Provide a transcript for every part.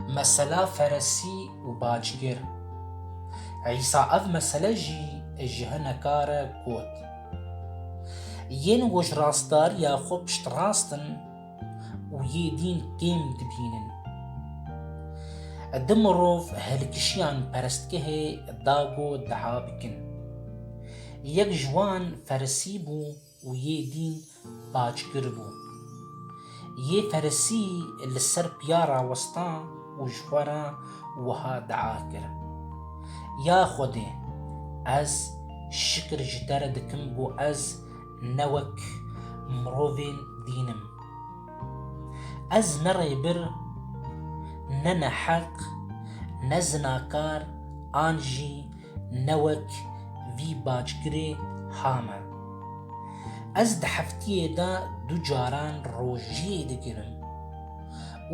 Mesela feresî û bacgir. Îsa ev mesele jî ji hineka re got. Yên ku ji rastdariya xwe piştrast in û yê dîn kêm dibînin. Du mirov hilkişiyan perestgehê da ku diha bikin. Yek ji wan feresî bû, Û yê dîn paçgir bû. Yê ferisî li ser piya rawestan û ji xwe re wiha dea kir, Ya Xwedê, ez şikir ji te re dikim ku ez ne wek mirovên dîn im. Ez ne rêbir, ne neheq, ne zinakar an jî Ne wek vî backirê hame. Ez di heftiyê de du caran rojiyê dikirim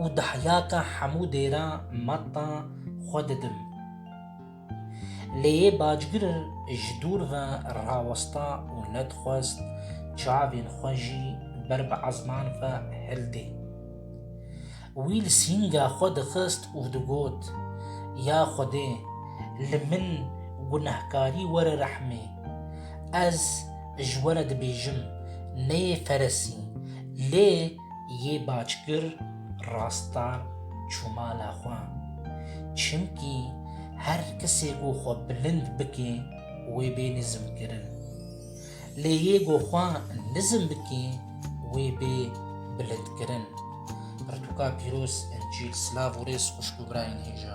û dahyaka hemû dêra matta xwe didim. Lê yê backir ji dûr ve rawesta û nedixwest çavên xwe jî ber bi ezman ve hildê. Wî li sînga xwe dixist û digot, Ya Xwedê, li min gunehkarî were rehmê. Ez ji we re dibêjim, neyê feresî, lê yê backir rastar çû mala xwe. Çimkî her kesê ku xwe bilind bike wê bê nizmkirin. Lê yê ku xwe nizm bike wê bê bilindkirin. Pirtûka pîroz, Încîl, Silav û rêz xwişk û birayên hêja.